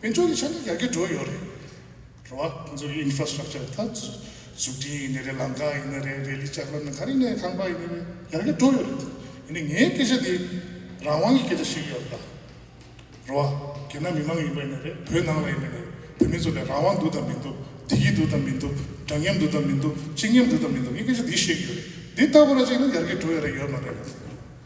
མི་འགྲོ་རེད་ཆ་འདི་ཡར་གྱི་འགྲོ་ཡོད་རེད། རེད་བ། ང་ཚོ་གི Infrastructure ད་འཛུགས་སྐྲིན་ཡིན་ནི་རེད་ལམ་ཀ་ཡིན་ནི་རེད་རེ་ལི་ལྕགས་ལམ་ནི་ག་རེ་ནས་ཁང་པ་ཡིན་ནི་རེད་ཡར་གྱི་འགྲོ་ཡོད་རེད་དེ། ཡིན་ནི་ངའི་སྐད་ཆ་འདི་རང་དབང་གི་སྐད་ཆ་ཞིག་ཡོད་རེད་ལ། རེད་བ། རྒྱ་ནག་མི་མང་ཡིན་པ་ཡིན་ནི་རེད་བོད་ནང་ལ་ཡིན་ནི་རེད་བོད་མི་ཚོ་ལ་རང་དབང་འདུག་དང་མི་འདུག་བདེ་སྐྱིད་འདུག་དང་མི་འདུག་འདྲ་མཉམ་འདུག་དང་མི་འདུག་གཅིག་མཉམ་འདུག་དང་མི་འདུག་ངས་སྐད་ཆ་འདི་བཤད་ཀྱི་ཡོད་རེད་འདི་ལྟ་བུ་ར་ཅིག་ནི་ཡར་གྱི་འགྲོ་ཡོད་རེད་ཡོད་མ་རེད།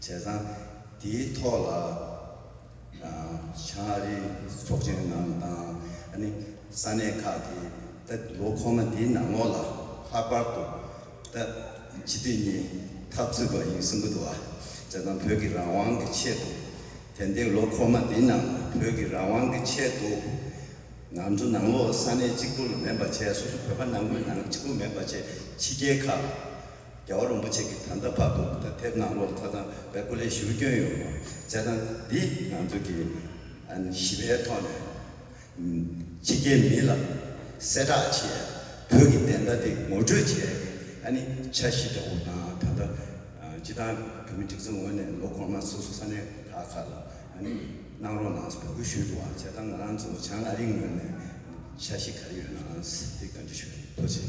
བྱས་ཙང། དེའི་ཐོག་ལ་བྱང་ཨ་རིའི་ཚོགས་ཆེན་ནང་དང་ཨ་ནི་ས་གནས་ཁག་གིས་ད་ལོ་ཁོ་ན་དེའི་ནང་ལོགས་ལ་ལྷག་པར་དུ་ད་སྤྱི་འཐུས་གཉིས་ཐག་ཚུད་པ་ཡིན་གསུངས་ཀྱི་འདུག་ཨ་བྱས་ཙང་བོད་ཀྱི་རང་དབང་གི་ཆེད་དུ་དེ་འདས་ལོ་ཁོ་ན་དེའི་ནང་ལ་བོད་ཀྱི་རང་དབང་གི་ཆེད་དུ་ང་ཚོ་ནང་ལོགས་ས་གནས་གཅིག་པུ་ལ་མེད་པ་བྱས་སོ་སོ་བོད་པ་ནང་ཁུལ་ནང་གཅིག་པུ་མེད་པ་བྱས་ཕྱི་རྒྱལ་ཁག་ལ། རྒྱལ་བ་རིན་པོ་ཆེ་གི་ད་ལྟ་བར་དུ་ད་དེབ་ནང་ལོ་ཙཱ་ཚང་པའི་སྐུ་ལས་ཞུ་སྐྱོན་ཡོད་མོད་བྱས་ཙང་འདི་ང་ཚོ་གི་ཞི་བའི་ཐོག་ནས་ཕྱི་རྒྱལ་མི་ལ་གསལ་བསྒྲགས་བྱས་བོད་ཀྱི་བདེན་མཐའ་དེ་ངོ་སྤྲོད་བྱས་ཀྱི་ཨ་ནི་ཆ་བཞི་འདྲ་བོ་དང་ད་ལྟ་སྤྱི་བཏང་བོད་མི་སྒྲིག་འཛུགས་ངོས་ནས་ལོ་གོང་མ་སོ་སོ་ས་གནས་ཁག་ཁག་ལ་གནང་རོགས་གནང་འབོད་སྐུལ་ཞུས་འདུག་བ་བྱས་ཙང་ང་རང་ཚོ་བྱང་ཨ་རིའི་ངོས་ནས་ཆ་བཞི་ག་རེ་ཡོད་ནའང་དེ་བཀའ་འདྲི་ཞུ་རིན་པོ་ཆེ།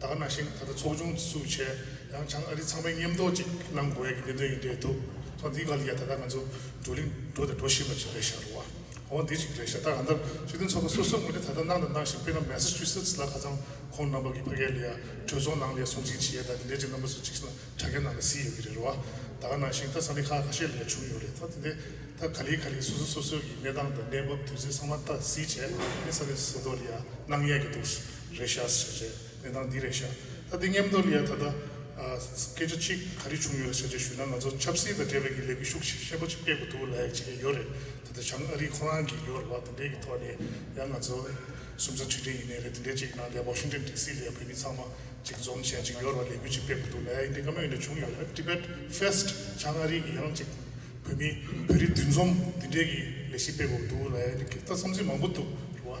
དག་ན་ཞིག་ད་ལྟ་ཚོགས་ཆུང་ཚུགས་ཆེད་ཡང་བྱང་ཨ་རི་ཚང་མས་མཉམ་འདོགས་ཅིག་གནང་དགོས་ཡག་གི་གནད་དོན་ཡིན་འདོད་འདུག་ཚོགས་འདིའི་སྐབས་ཀྱི་ད་ལྟ་ང་ཚོ་བགྲོ་གླིང་འགྲོ་དང་འགྲོ་བཞིན་པ་ཅིག་རེད་ཤག་རུ་བ་འོ་འདི་ཅིག་རེད་ཤག་ད་ག་འདར་སྲིད་དོན་ཚོགས་པ་སོ་སོ་ངོས་ནས་ད་ལྟ་གནང་དང་གནང་བཞིན་དཔེར་ན་མེ་སི་ཅུ་སི་ཏི་ལ་ཁ་ཚང་ཁོང་རྣམ་པ་གི་ཕ་གའི་ལས་ཡ་གྲོས་ཚོགས་ནང་ལས་སྲུང་ཅིག་བྱེད་ཡ་ད་དེ་འདྲས་ཅིག་རྣམ་པ་སུ་ཅིག་ན་དྲ་རྒྱ་ནང་ལ་བཟི་ཡོད་གི་རེད་རུ་བ་ད་ག་ནང་ཞིག་ད་ས་ལེ་ཁ་ཁ་ཤས་ལས་བྱུང་ཡོད་རེད་ད་དེ་འདྲས་ད་ག་ལེ་ག་ལེ་སོ་སོ་སོ་སོའི་གི་གནས་སྟངས་དང་གནས་བབ་དུས་ཚོད་ཚང་མ་ད་གཟིགས་བྱས་ཨེ་ས་ལེ་ས་ཏོ་ལེ་ཡ་གནང་ཡས་གི་འདུག། རེད་ཤག་ཟེར་བྱས་གནས་སྟངས་འདི་རེད་ཤག་ད་འདི་སྙེམས་འདོར་ཡས་ད་ལྟ་སྐད་ཆ་གཅིག་ག་རེ་བྱུང་ཡོད་རེད་ཟེར་བྱས་ཞུས་ན་ང་ཚོ་ཆབ་སྲིད་དང་འབྲེལ་བའི་གི་ལས་འགུལ་ཤུགས་ཆེ་ཤེས་པོ་ཆེ་སྤེལ་དགོས་འདུག་ལ་ཡག་བྱས་ཡོད་རེད་ད་ལྟ་བྱང་ཨ་རི་ཁོ་རང་གི་ཡོད་རེད་བ་དེ་འདྲའི་གི་ཐོག་ནས་ཡང་ང་ཚོ་སུམ་ཚ་ཁྲི་ཁྲི་ཡིན་ནའི་རེད་དེ་འདྲའི་ཅིག་ནང་ལས་བོགས་ཤིང་ཏན་ཏི་སི་ལས་བོད་མི་ཚང་མ་ཅིག་འཛོམས་བྱས་ཅིག་ཡོད་རེད་བ་ལས་འགུལ་ཅིག་སྤེལ་དགོས་འདུག་ལ་ཡ་ཡིན་དེ་ག་མ་ཡིན་དྲ་བྱུང་ཡོད་རེད Tibet Fest བྱང་ཨ་རི་གི་ཡང་ཅིག་བོད་མི་བོད་རིགས་འདུས་འཛོམས་དེ་འདྲའི་གི་ལས་ཤིག་སྤེལ་དགོས་འདུག་ལ་ཡ་ཡིན་དེ་གི་ད་བསམ་ཚུལ་མང་པོ་འདུག་རེད་བ།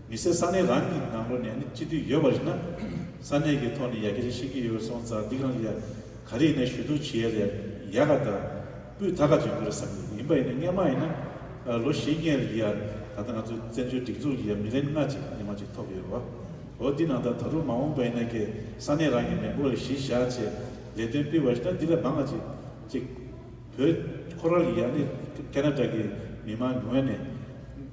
མི་སེར་ས་གནས་རང་གི་ནང་ལོག་ནས་ནི་སྤྱི་འཐུས་ཡོད་པ་རེད་ན། ས་གནས་ཀྱི་ཐོག་ནས་ཡ་གི་རེ་བཤད་ཀྱི་ཡོད་པ་སོང་ཙང་འདི་གང་གི་ཡ་ག་རེ་ཡིན་ན་ཞུ་གཏུག་བྱེད་ཡ་རེད་ཡ་ག་ད་སྤུས་ད་ག་བྱེད་དགོས་རེད་བསམ་གི་ཡིན་པ་ཡིན་ན་སྙན་མ་ཡིན་ན་ལོ་བཞི་ལྔའི་རིང་གི་ཡ་ད་ལྟ་ང་ཚོའི་བཙན་བྱོལ་སྒྲིག་འཛུགས་ཀྱི་ཡ་མི་རེ་ལྔ་གཅིག་ཉི་མ་གཅིག་ཐོབ་ཡོད་རེད་བ། འོ་འདི་ནང་ད་ད་རུང་མ་འོངས་པ་ཡིན་ན་ཀྱི་ས་གནས་རང་གི་མེ་འགོག་ཡ་གཞི་བཞག་ཆེད་ལས་དོན་སྤེལ་བ་ཞིག་ན་འདི་ལས་མང་ག་ཅིག་ཅིག་བོད་ཁོ་རང་གི་ཡ་ནི་ཀ་ན་རྡ་གི་མི་མང་ཉུང་བས་ནས།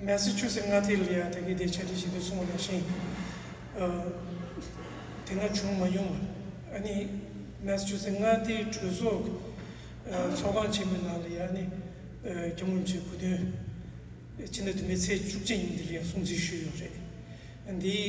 མེ་སི་ཆུ་སི་མངའ་སྡེའི་ལི་ཡ་དག་གིས་དེ་ཆ་འགྲིག་བྱེད་དུ་སོང་བ་རང་བཞིན་དེ་སྔ་བྱུང་མ་མྱོང་བ་ཨ་ནི་མེ་སི་ཆུ་སི་མངའ་སྡེའི་གྲོས་ཚོགས་ཚོགས་ཁང་ཆེན་མོའི་ནང་ལི་ཡ་ནི་རྒྱ་ངོས་ཚོའི་བུ་སྟོན་ཕྱི་ཟླ་དུ་མའི་ཚེས་བཅུ་གཅིག་ཉིན་དེ་ལི་ཡ་སྲུང་བརྩི་ཞུས་ཡོད་པ་རེད་འདིའི་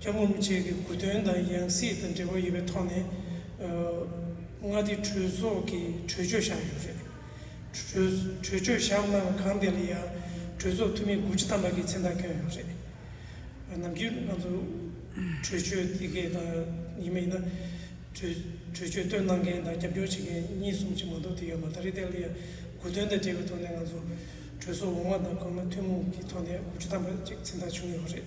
ལྕགས་མོ་མི་ཆེ་གེ་དགུ་དོན་དང་ཡང་སྲིད་དང་འབྲེལ་བ་ཡོད་པའི་ཐོག་ནས་མངའ་སྡེ་གྲོས་ཚོགས་ཀྱི་གྲོས་ཆོད་བཞག་ཡོད་རེད། གྲོས་ཆོད་བཞག་གནང་བ་གང་དེ་ལ་ཡང་གྲོས་ཚོགས་འཐུས་མི་དགུ་ཅུ་ཐམ་པ་ཀྱི་མཚན་རྟགས་བསྐྱོན་ཡོད་རེད། ནམ་རྒྱུན་ང་ཚོ་གྲོས་ཆོད་དེ་གས་དང་ཡིན་མ་ཡིན་ན་གྲོས་ཆོད་བཏོན་གནང་མཁན་དང་རྒྱབ་སྐྱོར་བྱེད་མཁན་གཉིས་གསུམ་ཅིག་མ་གཏོགས་དེ་ཡོད་མ་རེད་དེ་ལ་ཡང་དགུ་དོན་དང་འབྲེལ་བའི་ཐོག་ནས་ང་ཚོ་གྲོས་ཚོགས་འོག་མ་དང་གོང་མ་ཐུན་མོང་གི་ཐོག་ནས་དགུ་ཅུ་ཐམ་པ་ཅིག་མཚན་རྟགས་བྱུང་ཡོད་རེད།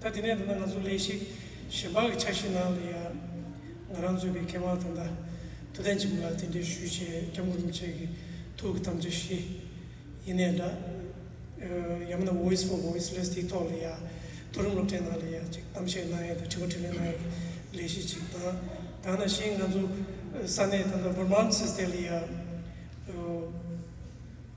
ད་དེ་ནས་འདི་ན་ང་ཚོ་ལས་ཤིག་གཞན་པ་གི་འཆར་གཞིའི་ནང་ལ་ཡང་ང་རང་གཙོས་པའི་མཁས་དབང་དང་ཐ་དད་ཅིག་མ་ལ་རྟེན་འབྲེལ་ཞུས་བྱས་སྐྱབས་མགོན་རིན་པོ་ཆེ་གི་ཐུགས་ཀྱི་དམ་བཅའ་བཞི་ཡེ་ནས་འདྲ། ཡང་མིན་ན Voice for Voiceless དེའི་ཐོག་ལ་ཡང་མཐོ་རིམ་སློབ་གྲྭའི་ནང་ལ་ཡང་ཅིག་གཏམ་བཤད་གནང་ཡས་དང་དྲི་བ་དྲིས་ལན་གནང་ཡས་ཀྱི་ལས་གཞི་ཅིག་དང། དང་ན་གཞན་ང་ཚོ་ས་གནས་ད་ལྟ Vermont སི་ཏེ་ལ་ཡང།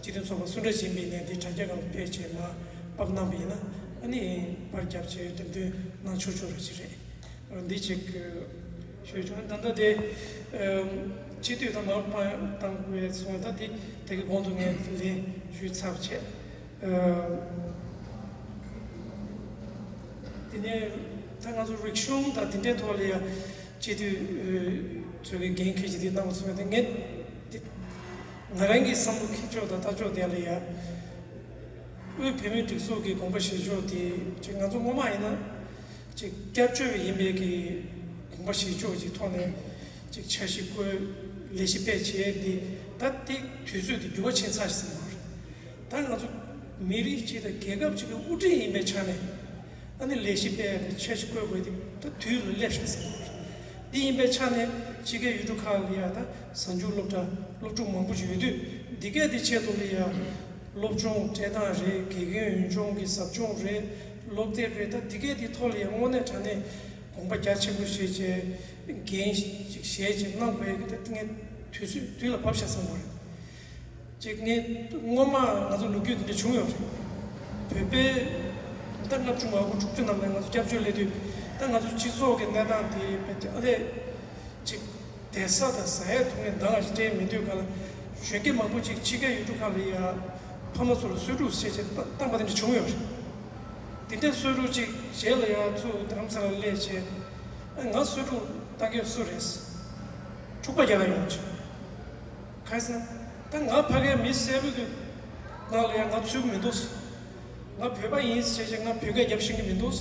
སྤྱི་དོན་ཚོགས་པ་སུ་འདྲ་བཞིན་པའི་གནས་འདི་དྲ་རྒྱ་གང་དུ་སྤེལ་བྱས་མ་པག་གནང་པ་ཡིན་ན་ཨ་ནི་པར་རྒྱབ་ཅེས་རྡེབ་འདོན་གནང་ཆོག་ཆོག་རེད་ཅི་རེད་རང་འདི་ཅིག་ཤོད་བྱུང་ད་ལྟ་དེ་སྤྱི་འཐུས་དང་མ་པག་བཏང་བའི་ཚོང་ད་དེ་དེ་གི་གོང་དུ་ངས་ལན་ཞུས་ཚར་བྱས་དེ་ནས་ད་ང་ཚོ་རིག་གཞུང་དང་དེ་འདྲའི་ཐོག་ལ་ཡང་སྤྱི་འཐུས་ཚོས་གི་འགན་ཁྱེད་ཀྱི་དེ་གནང་བ་ཚོ་ངས་དེ་ང་རང་གི་བསམ་བློ་ཁེ་ཕྱོགས་དང་ལྟ་ཕྱོགས་དེ་ལ་ཡང། དབུས་བོད་མིའི་སྒྲིག་འཛུགས་ཀྱི་དགོངས་པ་བཞེས་ཕྱོགས་དེ་ཅིག་ང་ཚོ་ངོ་མ་ཡིན་ན། ཅིག་སྐྱབས་བཅོལ་བ་ཡིན་པའི་གི་དགོངས་པ་བཞེས་ཕྱོགས་ཀྱི་ཐོག་ནས། ཅིག་འཆར་གཞི་བཀོད། ལས་གཞི་སྤེལ་བྱས་ཏེ། ད་དེ་དུས་ཚོད་དེ་འགྱུར་བ་ཕྱིན་ཚར་ཟིན་པ་རེད། ད་ང་ཚོ་མི་རིགས་གཅིག་དང་རྒྱལ་ཁབ་གཅིག་གི་དབུ་ཁྲིད་ཡིན་པའི་ཆ་ནས། ཨ་ནི་ལས་གཞི་སྤེལ་ཡག་དེ་ཆེད་ཆེ་བཀོད་དགོས་དེ་ད་དུས་རུ་སླེབས་ཤག་ཟེར་གི་རེད་འདི་ཡིན་པའི་ཆ་ནས་ཕྱི་རྒྱལ་ཡུལ་གྲུ་ཁག་ལ་ཡག་ད་གཟའ་མཇུག་སློབ་གྲྭ་སློབ་ཕྲུག་མང་པོ་ཡོད་དུས་འདི་གས་དེ་ཆེད་དུ་ལས་ཡག་སློབ་སྦྱོང་སྤྲད་སྟངས་རེད་དགེ་རྒན་འོས་སྦྱོང་གི་ཟབ་སྦྱོང་རེད་སློབ་དེབ་རེད་ད་འདི་གས་དེ་ཐོག་ལ་ཡང་དངོས་གནས་དྲ་གནས་དགོངས་པ་རྒྱ་ཆེན་པོ་བཞེས་བྱས་རྒན་ཞིག་བཞེས་བྱས་གནང་དགོས་ཀི་ད་ངས་དུས་ཚོད་དུས་ལ་བབས་ཤག་བསམ་དགོས་རེད། གཅིག་ནི་སྔོན་མ་ང་ཚོ་ལོ་རྒྱུས་འདི་འདྲ་བྱུང་ཡོད་རེད། བོད་པའི་ཟླ་ལྔ་བཅུ་ང་དགུ་དྲུག་ཅུ་ནམ་ལ་ང་ཚོ་སྐྱབས་བཅོལ་སླེབས་དུས་ད་ང་ཚོའི་སྤྱི་ཚོགས་ཀྱི་གནས་སྟངས་དེ་བལྟས་ན་ཨ་ལས་ཅིག་དད་ས་དང་ཟ་ཡས་དུག་ནས་མདང་ལ་ཅིག་སྐྲན་མི་འདོད་ག་ལ། གཞོན་སྐྱེས་མང་པོ་ཅིག་ཕྱི་རྒྱལ་ཡུལ་གྲུ་ཁག་ལ་ཡ། ཕ་མ་ཚོ་ལ་གསོད་ཕྲུག་བསད་ཅེས་བཏང་པ་འདི་འདྲ་བྱུང་ཡོད་རེད། འདི་འདྲའི་གསོད་ཕྲུག་ཅིག་བྱས་ལ་ཡང་ཚུར་བདམ་ས་ལ་སླེབས་བྱས་ཨ་ང་གསོད་ཕྲུག་བཏང་མཁན་སུ་རེད། འཁྲུག་པ་རྒྱ་ནག་ཡོང་ཆེད། ཁ་སང་ད་ང་ཕ་གའི་མི་གསལ་པོ་གི་ནང་ལ་ཡང་ང་ཚུད་ཀྱི་མི་འདུག་ང་བོད་པ་ཡིན་ཟེར་བྱས་ང་བོད་སྐད་རྒྱབ་ཤེས་ཀྱི་མི་འདུག་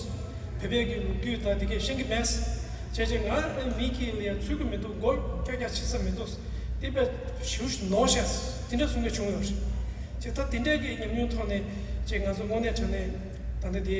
བོད་པའི་གི་ལུགས་རྒྱུད་དང་དེ་གས་ཤེས་ཀྱི་མེད་ཟེར་བྱས་ང་ཨ་མི་གི་ལ་ཡང་ཚུད་ཀྱི་མི་འདུག་མགོ་སྐྱག་སྐྱག་བྱེད་ས་མི་འདུག་སྟེ་པས་ཞུ་ཞུ་ནོ་ཞེས་དེ་འདྲ་གསུངས་ཀྱི་བྱུང་ཡོད་རེད་ད་དེ་འདྲ་གི་ཉམས་མྱོང་ཐོག་ནས་ཅེས་ང་ཚོ་དངོས་གནས་དྲན་ནས་ད་ལྟ་དེ།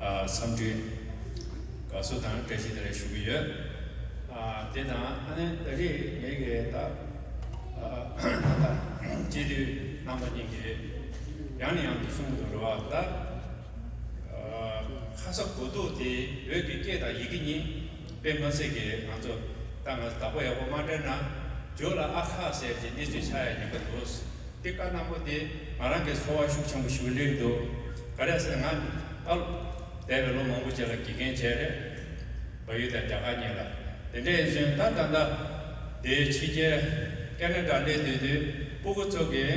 བསམ་འདུན། དགའ་བསུ་དང་བཀྲ་ཤིས་དེ་རེ་ཞུ་གི་ཡོད། དེ་དང་ཨ་ནེ་ད་རེས་ངེད་ཀྱི་ད་ལྟ་སྐྱེས་དུས་རྣམ་པ་གཉིས་ཀྱི་ཡང་ནས་ཡང་དུ་གསུང་དུ་འགྲོ་བ་ལྟར། ཁ་ས་གོ་སྡུག་དེ་བོད་ཀྱི་སྐད་དང་ཡི་གེ་གཉིས། དཔེ་མ་སྲིད་ཀྱིས་ང་ཚོ་ལྟ་ང་བདག་པོ་ཡག་པོ་མ་དྲན་ན་རྒྱུགས་ལ་ཨ་ཁ་ཟེར་གྱི་གནས་ཚུལ་ཆགས་ཡ་ཡིན་པ་འདུག་འདི་ཀ་སྣང་པོ་འདི་ང་རང་གི་འཚོ་བ་ཤུགས་ཆེན་པོ་ཞུ་གི་ལེགས་འདུག་ག་རེ་ཟེར་ང་ཨ་ལོ་འདས་པའི་ལོ་མང་པོ་རྗེས་ལ་དགེ་རྒན་བྱས་རེད་བ་ཡུལ་དང་རྒྱ་གར་གཉིས་ལ་དེ་འདྲའི་ཡིན་ཟོན་ད་ད་ད་དེའི་ཕྱི་རྒྱལ Canada སླེབས་དུས་དུས་སྤུ་གུ་ཚོ་གིས་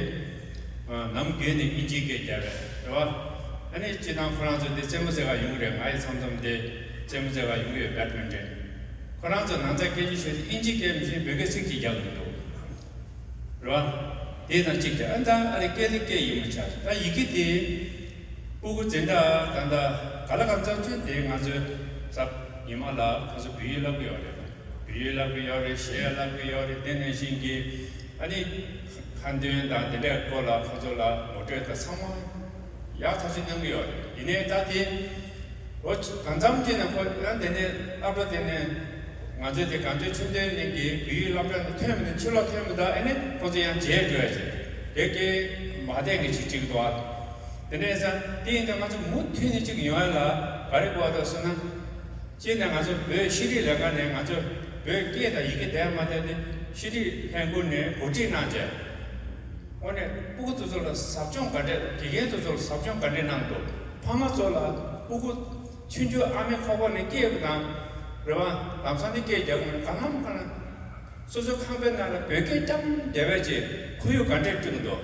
ནམ་རྒྱུན་ནས་ཨིན་ཇིའི་སྐད་རྒྱབ་པས་རེད་བ་ཨ་ནི་སྤྱི་སྟངས་ཁོ་རང་ཚོ་འདི་རྩེད་མོ་རྩེ་ག་ཡོང་གི་རེད་ང་ཡི་ཚམ་ཚོམ་འདི། རྩེད་མོ་རྩེ་བ་ཡོང་གི་ཡོད་པའི་དོན་དྲན། ཁོ་རང་ཚོ་ནང་ཚ་སྐད་ཅིག་ཤོད་དེ་ཨིན་ཇི་སྐད་མི་ཤེས་འབོད་སྐད་ཚིག་གཅིག་རྒྱག་གི་འདུག་རེད་བ། དེ་དང་གཅིག་ཏེ་ཨ་མདའ་ཨ་རི་སྐད་ནི་སྐད་ཡིག་མ་ཆགས་ད་ཡི་གེ་དེ། སྤུ་གུ་ཛེ་འདྲ་ད་འདྲ་ག་ལ་གང་ཙམ་ཆོད་དེ་ང་ཚོའི་ཟབ་ཉི་མ་ལ་ཁོང་ཚོ་བུ་ཡིག་བསླབ་གི་ཡོག་རེད་དང་བུ་ཡིག་བསླབ་གི་ཡོག་རེད་ཞེས་བསླབ་གི་ཡོག་རེད་དེ་ནས་བཞིན་གི་ཨ་ནི་ཁ་འདོན་དང་དེ་འདྲའི་སྐོར་ལ་ཁོང་ཚོ་ལ་ངོ་སྤྲོད་དང་ཚང་མ། ཡག་ཐག་གཅོད་གནང་གི་ཡོད་ཡིན་ནའི་ད་དེ་ལོ་གང་འཚམ་དེ་ནས་ཁོ་རང་དེ་ནས་སླབ་གྲ་དེ་ནས་ང་ཚོའི་དེ་གངས་ཅན་ཆུ་འདེའི་གླིང་གི་བུ་ཡིག་སླབ་གྲ་ནས་ཐོན་མི་ཐོན་ཕྱི་ལོག་ཐོན་མི་ཐོ་ཨེ་ནས་ཁོ་ཚོ་ཡང་མཇལ་དགོས་ཡ་ཟེར་དེ་སྐད་མ་བསྡད་གི་ཆིག་ཆིག་འདུག་ཨ་དེ་ནས་ས་དེ་ཡིན་ད་ང་ཚོ་མུ་མཐུད་ནས་ཅིག་ཡོང་ཡ་ལ་ག་རེ་གོ་ད་སུ་ན་ཅི་ནས་ང་ཚོ་བོད་ཤེས་རིག་ལས་ཁང་ནས་ང་ཚོ་བོད་སྐད་དང་ཡི་གེ་དེ་མ་ཐོན་ཏེ་ཤེས་རིག་ལྷན་ཁུར་ནས་གོ་སྒྲིག་གནང་མཇལ། ངོ་ནས་སྤུ་གུ་ཚོ་ཚོ་ལ་ཟབ་སྦྱོང་ག་འདྲས་དགེ་རྒན་ཚོ་ཚོ་ལ་ཟབ་སྦྱོང་ག་འདྲས་གནང་འདུག་ཕ་མ་ཚོ་ལ་སྤུ་གུ། ཆུ་འཇོ་ཨ་མའི་ཁོག་པ་ནས་སྐྱེས་པ་དང། རེ་བ། ལམ་སང་ནས་སྐྱེས་རྒྱག་གི་མི་གང་ལམ་གང། སོ་སོའི་ཁང་པའི་ནང་ལ་བོད་སྐད་ལྕམ་རྒྱལ་བས་ཀྱི་ཁོར་ཡུག་ག་འདྲས་བསྐྲུན་འདུག་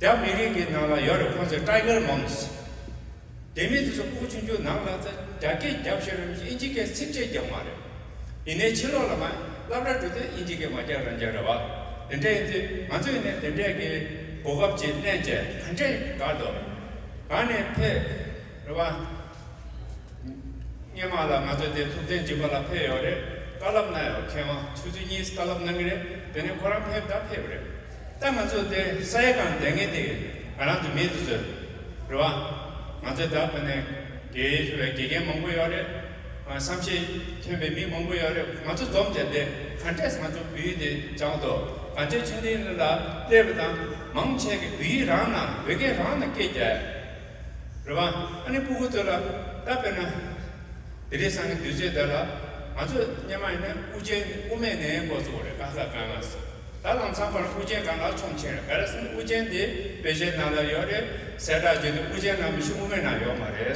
རྒྱ་མི་རིགས་ཀྱི་ནང་ལ་ཡོད་རེད་ཁོང་ཚོས Tiger Moms། དེ་མིན་དེ་ཚོ་སྐུ་ཆུང་ཆུང་ནང་ལ་རྒྱ་སྐད་རྒྱབ་ཤེས་རམ་ཨིན་ཇི་སྐད་ཚིག་ཕྲད་རྒྱབ་མ་རེད། ཡིན་ནའི་ཕྱི་ལོག་ལ་མ་ལབ་ར་འགྲོ་དུས་ཨིན་ཇི་སྐད་མ་རྒྱབ་རང་རྒྱབ་རེད་བ། དེ་འདྲ་ཡིན་དུས་ང་ཚོ་ཡིན་ནའི་དེ་འདྲས་ཀྱི་གོ་སྐབས་ཅིག་གླེང་བྱས་ག་འདྲས་དགའ་འདོད། གང་ནས་ཕེབས་རེད་བ། སྙན་མ་ལ་ང་ཚོ་དེ་ཐུབ་བསྟན་སྦྱིན་པ་ལ་ཕེབས་ཡོད་རེད་དཀའ་ལབ་གནང་ཡོད་མཁན་བ་ཆུ་ཚོད་གཉིས་ཀ་ལབ་གནང་གི་རེད་དེ་ནས་ཁོ་རང་ཕེབས་ད་ཕེབས་རེད། ད་ང་ཚོ་འདིར་ས་ཡ་གང་བསྡད་ངེས་དེ་ང་རང་དུ་མེད་དུ་གསོལ། རེད་བ། ང་ཚོའི་བདག་པོ་ནི་དགེ་བའི་དགེ་རྒན་མང་པོ་ཡོད་རེད། བསམ་ཤེས་ཐོན་པའི་མི་མང་པོ་ཡོད་རེད་ང་ཚོ་འཛོམས་ཅེས་འདི་ག་འདྲས་ང་ཚོ་བོད་ཡིག་འདི་སྦྱང་དོ་ག་འདྲས་ཆོས་འདི་ལ་ལྟོས་པ་དང་མང་ཆེ་གི་བོད་ཡིག་རང་ན་བོད་སྐད་རང་ན་སྐད་རྒྱ། རེད་བ། ཨ་ནི་སྤུ་གུ་ཚོ་ལ་ད་དཔེར་ན་དེ་རིང་སང་གི་དུས་ཚོད་འདི་ལ་ང་ཚོ་སྙེ་མ་ཡིན་ན་དབུ་ཅན་དབུ་མེད་ནས་སྐོར་ཚོགས་རེད་ཀ་ཁ་ག་ང་སོ། ད་ལམ་ཚངས་པར་ཤུགས་ཅན་གང་ལ་ཆོམ་ཆེན་བེ་ར་སེམས་དབུ་ཅན་དེ་བེ་ཞའི་ནང་ལ་ཡོད་རེད་ཟེར་དྲག་བརྗོད་དེ་དབུ་ཅན་ནང་མི་ཤི་དབུ་མའི་ནང་ཡོད་མ་རེད།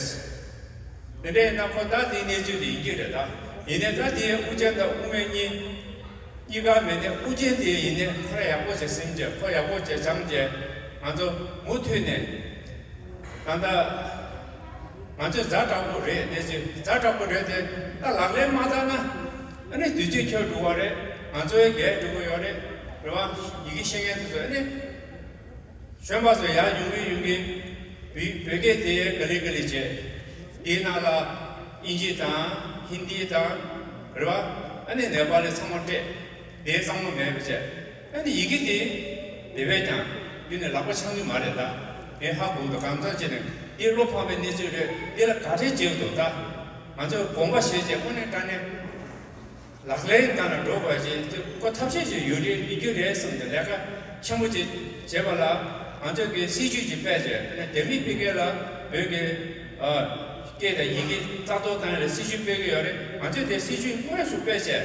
དེ་འདྲ་ཡིན་ན་ཁོ་ད་དེའི་གནས་ཚུལ་དེ་ཡིན་གྱི་རེད་ད་ཡིན་ནས་ད་དེའི་དབུ་ཅན་དང་དབུ་མའི་གཉིས་གཉིས་ཀ་མེད་ནས་དབུ་ཅན་དེ་ཡིན་ནས་ཁོ་ར་ཡག་པོ་བྱེད་སེམས་བྱེད་ཁོ་ཡག་པོ་བྱེད་བྱམས་བྱེད་ང་ཚོ་མུ་མཐུད་ནས་ད་ད་ང་ཚོས་རྫ་དྲག་པོ་རེད་གནས་ཚུལ་རྫ་དྲག་པོ་རེད་དེ་ད་ལག་ལེན་མ་བསྟར་ན། ཨ་ནི་དུས་ཚོད་འཁྱོལ་འགྲོ་བ་རེད་ང་ཚོའི་འགལ་འགྲོ་གི་ཡོད་རེད་རེད་བ། ཡི་གེ་ཤེས་མཁན་དེ་ཚོ་ཨ་ནི་གཞོན་པ་ཚོ་ཡར་ཡོང་གི་ཡོང་གི། བོད་སྐད་དེ་ག་ལི་ག་ལི་བྱས། དེའི་ནང་ལ་ཨིན་ཇི་དང་ཧིན་དི་དང་རེད་བ། ཨ་ནི་ནེ་པ་ལི་ཚང་མ་སྤྲད། དེའི་གཙང་མ་མེད་བྱས། ཨ་ནི་ཡི་གེ་འདི། དེ་བས་ཀྱང། འདི་ནི་ལག་པ་འཆང་རྒྱུ་མ་རེད་ལ། ངས་ཧ་གོ་འདུག་གང་ཙམ་བྱས་ནས་འདི་བློ་ཕམ་པའི་གནས་ཚུལ་རེད་འདི་ལ་ག་རེ་བྱེད་འོས་འདུག་ད། ང་ཚོས་དགོངས་པ་བཞེས་རྗེས་དངོས་གནས་དཀའ་གནད། ལག་ལེན་སྟངས་ལ་འགྲོ་དགོས་ཀྱི་ཅི་གོ་ཐབས་ཤེས་ཤིག་ཡོད་རིགས་མི་རྒྱུ་རེད་གསུངས་ཏེ་ལས་ཀ་ཆེན་པོ་ཅིག་བྱེད་པ་ལ། ང་ཚོས་ཀྱི་སྲིད་ཇུས་ཀྱི་དཔེ་ཆ་ཨ་ནི་ལྡེ་མིག་སྤེལ་མཁན་ལ་བོད་ཀྱི། སྐད་དང་ཡི་གེ་རྩ་གཏོར་བཏང་ཡོད་རེད་སྲིད་ཇུས་སྤེལ་གྱི་ཡོད་རེད་ང་ཚོས་དེ་སྲིད་ཇུས་དངོས་སུ་སྤེལ་ཆེད།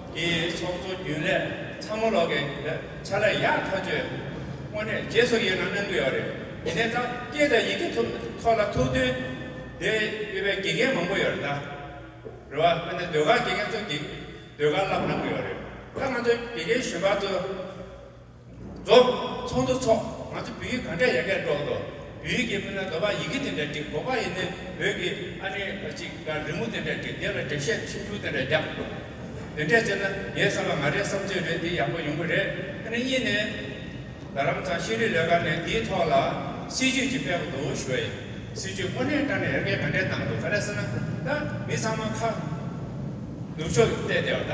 དེའི་ཚོགས་གཙོ་རྒྱུན་ལས་ཚང་མ་ལོག་གི་རེད་ཆ་ལ་ཡག་ཐག་གཅོད་དངོས་གནས་རྗེས་སུ་ཡི་རང་གནང་གི་ཡོད་རེད་དེ་ནས་ད་སྐད་དང་ཡི་གེ་ཐོག་ལ་ཐུག་དུས་དེ་ཡོད་པའི་དགེ་རྒན་མང་པོ་ཡོད་རེད་ད་རེད་བ་དཔེར་ན་ཟློས་གར་དགེ་རྒན་ཚོ་དགེ་ཟློས་གར་བསླབ་གནང་གི་ཡོད་རེད་ད་ང་ཚོ་དགེ་རྒན་གཞོན་པ་ཚོ། རྫོགས། ཚོགས་འདུ་འཚོགས། ང་ཚོ་བོད་ཡིག་ག་འདྲ་ཡག་གེ་སྒྲོག་འདུག་བོད་ཡིག་གི་མིན་ན་ག་བ་ཡི་གེ་དེ་འདྲ་བྲིས་གོ་བ་ཡིན་ནི་བོད་ཀྱི་ཨ་ནེ་བ་ཅིག་ལ་རི་མོ་དེ་འདྲ་བྲིས་དེ་ལ་འགྲེལ་བཤད་ཆུང་ཆུང་དེ་འདྲ་རྒྱག་འདུག་དེ་འདྲས་བྱས་ན་ངའི་བསམ་པ་ང་རེའི་བསམ་ཚུལ་རེད་དེ་ཡག་པོ་ཡོང་གི་རེད་ཨ་ནེ་གཉིས་ནས། རྡ་རམ་ཚང་ཤེས་རིག་ལས་ཁང་ནས་དེའི་ཐོག་ལ་སྲིད་ཇུས་ཅིག་སྤེལ་གི་འདུག་ཞུ་བ་ཡིན་སྲིད་ཇུས་དངོས་གནས་བཀྲ་ནས་ཡར་རྒྱས་ག་འདྲས་བཏང་འདུག་ག་རེ་ཟེར་ན་ད་མི་ཚང་མ་ཁ། ནུབ་ཕྱོགས་ཀྱི་ལྟས་དེ་བ་ད།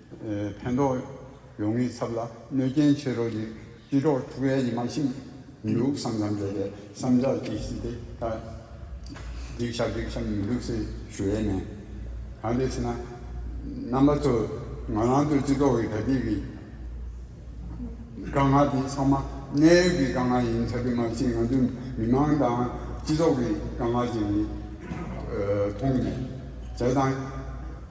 ཕན་ཐོགས་ཡོང་མིའི་ཚབ་ལ་གནོད་རྐྱེན་ཆེ་རོགས་གྱིས་སྤྱི་ཁྲོག་ཐུགས་ཡ་ཡི་མ་ཕྱིན། མི་ལུག་བསམ་ཙམ་བྱས་ཏེ་བསམ་འཆར་གྱིས་སྲིད་དེ་ད། སྡིག་བྱ་སྡིག་བྱ་མི་ལུག་སེ་ཞུ་ཡས་མེད། གང་དེ་ཚེ་ན། རྣམ་པ་ཚོ་ང་རང་ཚོ་སྤྱི་ཚོགས་ཀྱི་དགྲ་བགེགས་ཀྱི་དཀའ་ངལ་དེ་ཚང་མ་གནས་ཡུལ་གྱི་དཀའ་ངལ་ཡིན་ཚར་གི་མ་ཕྱིན་ང་ཚོའི་མི་དམངས་དང་སྤྱི་ཚོགས་ཀྱི་དཀའ་ངལ་ཅན་གྱི་མཐོང་ནས་བྱས་དང།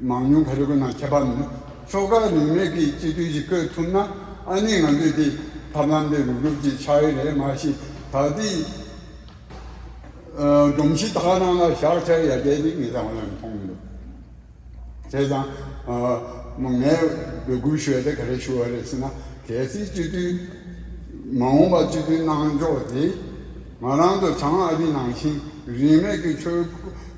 མང་ཉུང་ག་རེ་དགོས་ན་ཁྱད་པར་མེད། ཕྱོགས་ཁག་རིས་མེད་ཀྱིས་སྤྱི་འཐུས་ཤིག་བསྐོས་ཐུབ་ན་ཨ་ནི་ང་ཚོས་དེ་ཐབས་ལམ་དེ་རུབ་རུབ་ཀྱིས་ཆགས་ཡས་རེད་མ་གཞི་ད་ལྟའི་སྒྲོམ་གཞི་དག་ནང་ལ་བཞག་ཆགས་ཡ་རྒྱལ་ཅིག་མི་ཚང་བ་ཡང་མཐོང་གི་འདུག་བྱས་ཙང་ངས་འབོད་སྐུལ་ཞུ་བ་དེ་ག་རེ་ཞུ་བ་རེད་ཟེར་ན་གལ་སྲིད་སྤྱི་འཐུས་མ་འོངས་པ་སྤྱི་འཐུས་གནང་ཕྱོགས་དེ་ང་རང་ཚོ་བྱང་ཨ་རིའི་ནང་བཞིན་རིས་མེད་ཀྱི་ཆོས་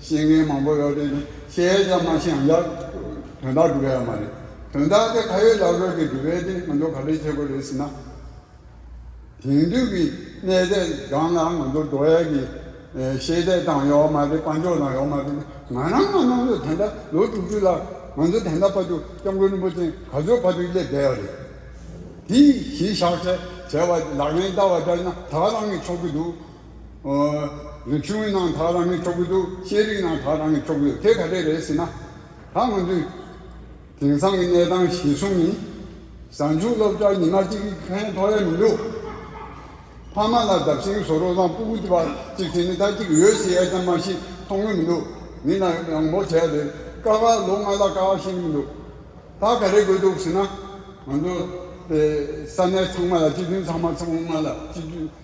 ཤེས་མཁན་མང་པོ་ཡོད་དེ་ནི་ཤེས་ཀྱང་མ་ཤེས་ཡང་ཡག། དོན་དག་སྒྲུབ་ཡག་མ་རེད། དོན་དག་དེ་ཁ་ཡོད་ལག་ཡོད་ཀྱིས་སྒྲུབ་ཡས་དེ་ང་ཚོ་ག་རེ་བྱེད་དགོས་རེད་ཟེར་ན། དེང་དུས་ཀྱི་གནས་ཚད་སྒང་ལ་ང་ཚོར་འགྲོ་ཡས་ཀྱི་ཤེས་ཚད་དང་ཡོག་མ་རེད་དཔའ་འཇོག་དང་ཡོག་མ་རེད་ང་རང་ང་རྣམ་གཡོ་དེ་འདྲ་ལོ་དྲུག་ཅུ་ལ་ང་ཚོ་དེ་འདྲ་ཕ་ཆུ་སྐྱབས་མགོན་རིན་པོ་ཆེ་ག་ཚོད་ཕ་ཆུ་སླེབས་བསྡད་ཡ་རེད། དེ་གཞི་བཞག་བྱས་བྱས་བ་ལག་ལེན་བསྟར་བ་འདྲ་ཡིན་ན་ད་རང་གིས་ཆོག་གི་འདུག། ཨོ། ཆུང་ངུའི་ནང་དག་རང་གིས་འཁྱོག་གི་འདུག་ཤེས་རིག་ནང་དག་རང་གིས་འཁྱོག་གི་འདུག་དེ་ག་རེ་རེད་ཟེར་ན། ད་ང་ཚོས་དེང་སང་གི་གནས་སྟངས་གཞིར་བཟུང་ནི། གཟའ་མཇུག་སློབ་གྲྭར་ཉི་མ་གཅིག་གི་ཁན་ཐོག་ཡ་མི་འདུག། ཕ་མ་ལ་འདབ་ཤིང་བཟོ་རོགས་དང་སྤུ་གུ་བར་གཅིག་བྱས་ནས་ད་གཅིག་ཡོད་ཟེར་ཡ་ཙམ་མ་ཤི་མཐོང་གི་མི་འདུག་མི་ལ་ཡང་བོ་བྱས་ཡ་དེ་དཀའ་ཁག་ལོ་ལྔ་ལ་དཀའ་ཁག་ཤེས་ཀྱི་མི་འདུག་ད་ག་རེ་དགོས་འདུག་ཟེར་ན། ང་ཚོ། ས་གནས་ཚང་མ་ལ་སྤྱི་མཐུན་ཚང་མ་ཚང་མ་ལ་སྤྱི་མཐུན།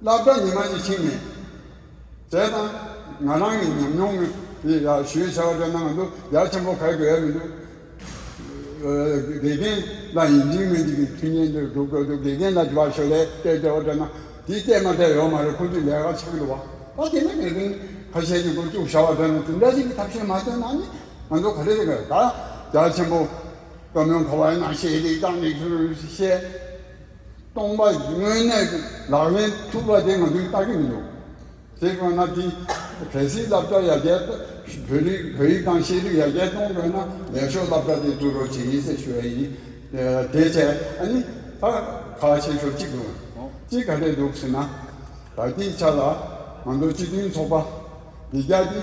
བླ་བྲང་ཉི་མ་ཡིད་བཞིན་མེད། ཟས་དང། ང་རང་གིས་ཉམས་མྱོང་མེད། དེ་ཡར་ཞུའི་བྱ་བ་འདྲ་གནང་གི་འདུག་ཡར་ཆེན་པོ་ག་གི་ཡ་མི་འདུག། དགེ་རྒན་ལ་ཡིད་འཛིན་མེད་འདི་གི་མཐུན་རྐྱེན་འདིར་སྒྲུབ་དགོས་འདུག་དགེ་རྒན་ལ་བ་ཞོ་ལས་སྤྲད་འདྲ་བ་འདྲ་གནང། དེ་སྤྲད་མ་སྤྲད་ཡོད་མ་རེད་ཁོང་ཚོས་ལས་ཀ་ཆག་གི་འདུག་བ། ད་དེ་འདྲ་ངེས་དོན་ཁ་ཤས་ཀྱི་སྒོ་བཅུག་བྱ་བ་འདྲ་ནི་དེ་འདྲ་ཞིག་གི་ཐབས་ཤེས་མ་བཏོན་ན་ནི་ང་ཚོ་ག་རེ་རེད་ག། ད་ཡར་ཆེན་པོ་བཀའ་མོལ་གོ་བ་ཡིན་ན་ཤེས་རིག་དང་ལེགས་སོ་ཞེས་སྟོང་པ་དངོས་གནས་ཀྱི་ལག་ལེན་ཐུབ་པ་དེ་ང་ཚོས་བལྟ་གི་མི་འདུག་དེ་དགོས་ན་དེ་གལ་སྲིད་བསླབ་བྱ་ཡར་རྒྱས་བོད་རིགས་བོད་ཡིག་དང་ཤེས་རིག་ཡར་རྒྱས་གཏོང་དགོས་ན་ལེགས་ཤོས་བསླབ་བྱ་དེ་བཙུགས་རོགས་བྱེད་ཡིན་ཟེར་ཞུ་ཡ་ཡིན། དེ་བཅས་ཨ་ནི་ད་ག་བྱེད་ཆོག་ཅི་དགོས་ཅི་ག་རེ་འདུག་ཟེར་ན། ད་ལྟའི་ཆ་ལ་ང་ཚོ་སྤྱི་མཐུན་ཚོགས་པ་འདི་རྒྱ་དེ་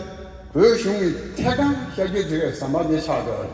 བོད་གཞུང་གི་ཐད་གང་བཤད་རྒྱུ་དེ་གའི་ཟམ་པ་དེ་ཆགས་ཡོད་རེད།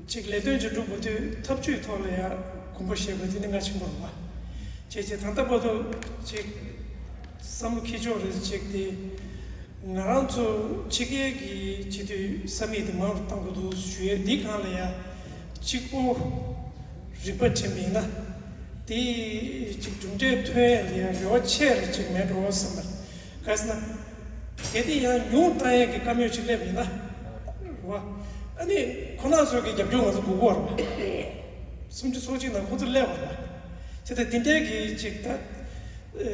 གཅིག་ལས་དོན་ཆེན་དྲུག་པོ་དེ་ཐབས་ཇུས་ཐོག་ལ་ཡང་གོམས་པ་བཞེས་པ་དེ་ནི་ང་ཆེན་པོར་རུང་བ། ཁྱེད་ཀྱིས་ད་ལྟ་པ་ཏོ་ཅིག་བསམ་བློ་ཁེལ་ཕྱོགས་རེ་བྱེད་དེ། ང་རང་ཚོ་ཕྱི་རྒྱལ་གྱི་སྤྱི་འཐུས་ས་མིག་དེ་མང་རུ་བཏང་གི་འདུག་ཞུ་ཡས་འདི་གང་ལ་ཡང་གཅིག་པོ་རིག་པ་དྲན་པའི་ན་དེ་ཅིག་གྲུབ་འབྲས་ཐོན་ཡས་ལ་ཡང་རེ་བ་ཆེ་རེ་ཅིག་མེད་འགྲོ་བསམ་པ་རེད། གལ་སྲིད་ན། གལ་ཏེ་ཡང་ཉུང་ཏང་ཡོན་གྱི་བཀའ་མོལ་ཞིག་སླེབས་ཡོད་ན། ཨ་ནི་ཁོ་ནག་ཚོས་ཀྱི་རྒྱབ་སྐྱོར་ང་ཚོ་འགུག་དགོས་བར་མ། སུམ་ཅུ་སོ་གཅིག་ནང་ཁོ་ཚོ་སླེབས་བར་མ། ཅི་སྟེ་དེ་འདྲའི་གི་ཅིག་ད།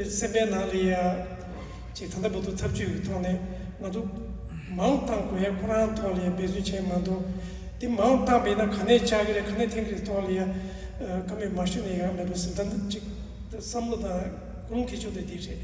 སེམས་པའི་ནང་ལ་ཡ། ཅིག་ད་ལྟ་བུ་ཐུག་ཐབས་ཇུས་ཀྱི་ཐོག་ནས་ང་ཚོ། མང་བཏང་དགོས་ཡ་ཁོ་རང་ཐོག་ལ་ཡ་འབད་བརྩོན་བྱས་མ་མདོ། དེ་མང་བཏང་པས་ན་ག་ནས་བཅག་གི་རེད་ག་ནས་འཐེན་གི་རེད་ཐོག་ལ་ཡ། བཀའ་མོལ་མ་ཞུ་ནས་ཡག་མེད་པ་ཟིན་ད་ཅིག་ད་བསམ་བློ་དང་ཀུན་སློང་ཁེལ་ཆོག་དེ་དེ་རེད།